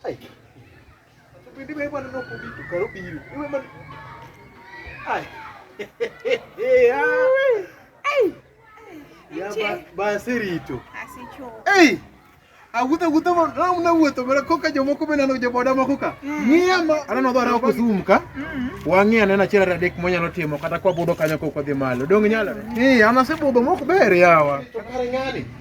Ai. Bende wewe bwana ndio kubi tukaro biru. Wewe man. Ai. Ai. Ya ba ba sirito. Asicho. Ei. Agutha gutha mo na mna wuto mera koka jomo ko bena no joboda mo koka. Mm. Ngia ma ana no dora ko sumka. Mm. Wangi ana na chira radek mo nyalo timo kata kwa bodo kanyo ko ko dhi malo. Dong nyalo. Eh, ana se bodo mo ko ber yawa. To kare ngani.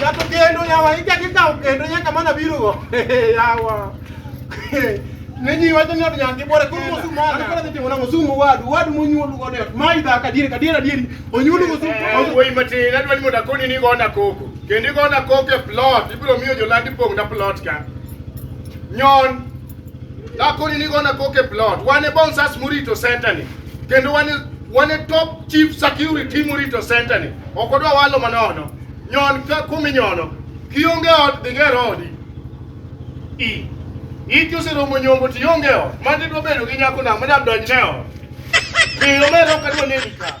Jato kendo yawa ija ki kao kendo nyaka mana biro go. Yawa. Nenyi wacho ni od nyangi bore kuno mosumo. Ana kora timo na mosumo wadu. Wadu monyuolu go det. Mai da ka dire ka dire dire. Onyuolu go sumo. Woi matin adwani mondo akoni ni gona koko. Kendi gona koko e plot. Ibiro miyo jolandi pong na plot ka. Nyon. Kakoni nigo na koke plot. Wan e bonsas murito center ni. Kendo wan wan e top chief security murito center ni. Ok odwa walo manono. Nyon ka kumi nyono. Kionge ot dhi ger odi. I. Iki oseromo nyombo to ionge ot. Mano idwa bedo gi nyako nang'o madam donj ne ot. Miyo mero kadwa neni ka.